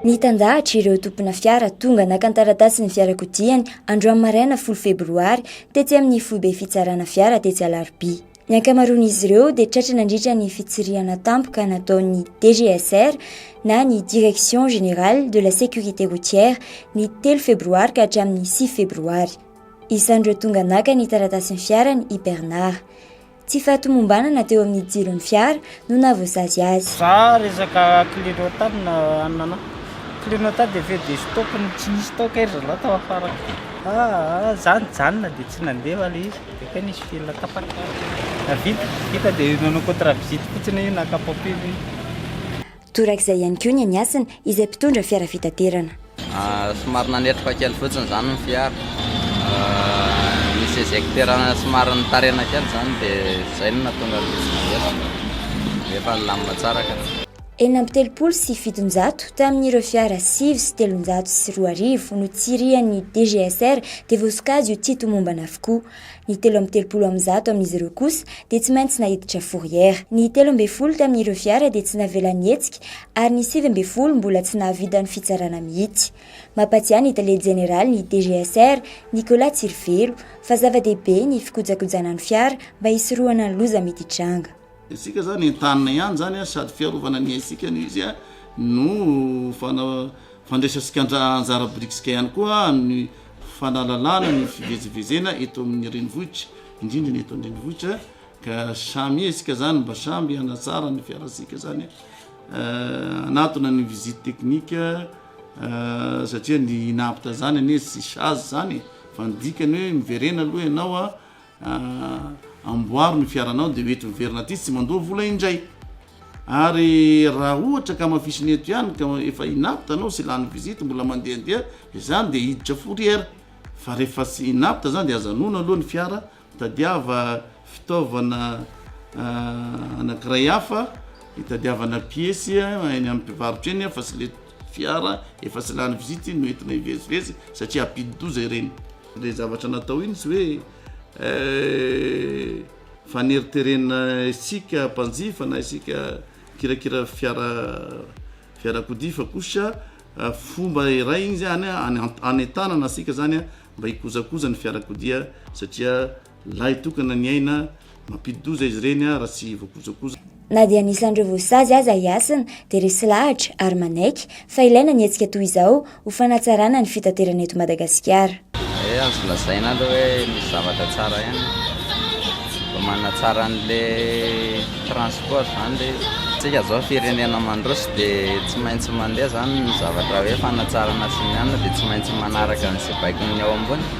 Nitandahatra ireo tompona fiara tonga naka ny taratasin'ny fiarakodiany androany maraina folo febroary tetsy amin'ny foibe fitsarana fiara tetsy Alarobia. Ny ankamaroan'izy ireo dia tratra nandritra ny fitsirihana tampoka nataon'ny DGSR na ny Direction Générale de la Sécurité Routière ny telo febroary ka hatramin'ny sivy febroary. Isan'ireo tonga naka ny taratasin'ny fiarany i Bernard. Tsy fahatomombanana teo amin'ny jiron'ny fiara no nahavoasazy azy. Za resaka clignotant na anana clignotant dia feuille de stop no tsy nisy tao kay ry zalahy tao afara kay. Aa za nijanona dia tsy nandeha ilay izy dia kay nisy fil tapaka. Vita, vita dia nanao contre visite fotsiny hoe naka papier ve. Torak'izay ihany koa ny any Hasina izay mpitondra fiara fitaterana. Somary nanetroka kely fotsiny izany ny fiara. Nisy éjecteur-na somary nitarina kely izany dia izay no nahatonga ny loza navery. Nefa nilamina tsara ka. Enina amby telopolo sy fitonjato tamin'ireo fiara sivy sy telonjato sy roa arivo notsirihan'ny DGSR dia voasokajy ho tsy tomombana avokoa. Ny telo amby telopolo amin'ny zato amin'izy ireo kosa dia tsy maintsy naiditra fourrière. Ny telo ambin'ny folo tamin'ireo fiara dia tsy navela nihetsika ary ny sivy ambin'ny folo mbola tsy nahavitan'ny fitsarana mihitsy. Mampatsiahy ny tale jeneralin'ny DGSR, Nicolas Tsirivelo, fa zava-dehibe ny fikojakojana ny fiara mba hisorohana ny loza mety hitranga. Isika izany entanina ihany izany a, sady fiarovana ny aintsika no izy a, no fana- fandraisantsika anja- anjara birikisika ihany koa amin'ny fanalalana ny fivezivezena eto amin'ny renivohitra, indrindra ny eto an-drenivohitra, ka samia isika izany mba samby hanatsara ny fiarantsika izany a, hanatona ny visite technique a, satria ny inapta izany anie tsy sazy izany e, fa ny dikany hoe miverena aloha ianao a, Ahh amboaro ny fiaranao de mety miverina aty tsy mandoa vola indray ary raha ohatra ka hamafisina eto ihany ka efa inapte anao sy lany visite mbola mandehandeha izany de hiditra fourrière fa rehefa tsy inapte izany de aza noana aloha ny fiara tadiava fitaovana anankiray hafa hitadiavana piesy eny amin'ny mpivarotra eny fa tsy le fiara efa tsy lany visite no entina hivezivezy satria ampidi-doza ireny. Ilay zavatra natao iny tsy hoe faneriterena isika mpanjifa na isika mpikirakira fiara fiarakodia fa kosa fomba iray iny izany hanentanana antsika izany mba hikojakoja ny fiarakodia satria Lahy tokana ny aina, mampidi-doza izy ireny raha tsy voakojakoja. Na dia anisan'ireo voasazy aza i Hasina, dia resy lahatra ary manaiky fa ilaina ny hetsika toy izao ho fanatsarana ny fitaterana eto Madagasikara. Ee azo lazaina aloha hoe misy zavatra tsara ihany vao manatsara an'le transport zany le izy. Tsika zao firenena mandroso de tsy maintsy mandeha zany ny zavatra hoe fanatsarana sy ny anona de tsy maintsy manaraka an'ze baikon'ny ao ambony.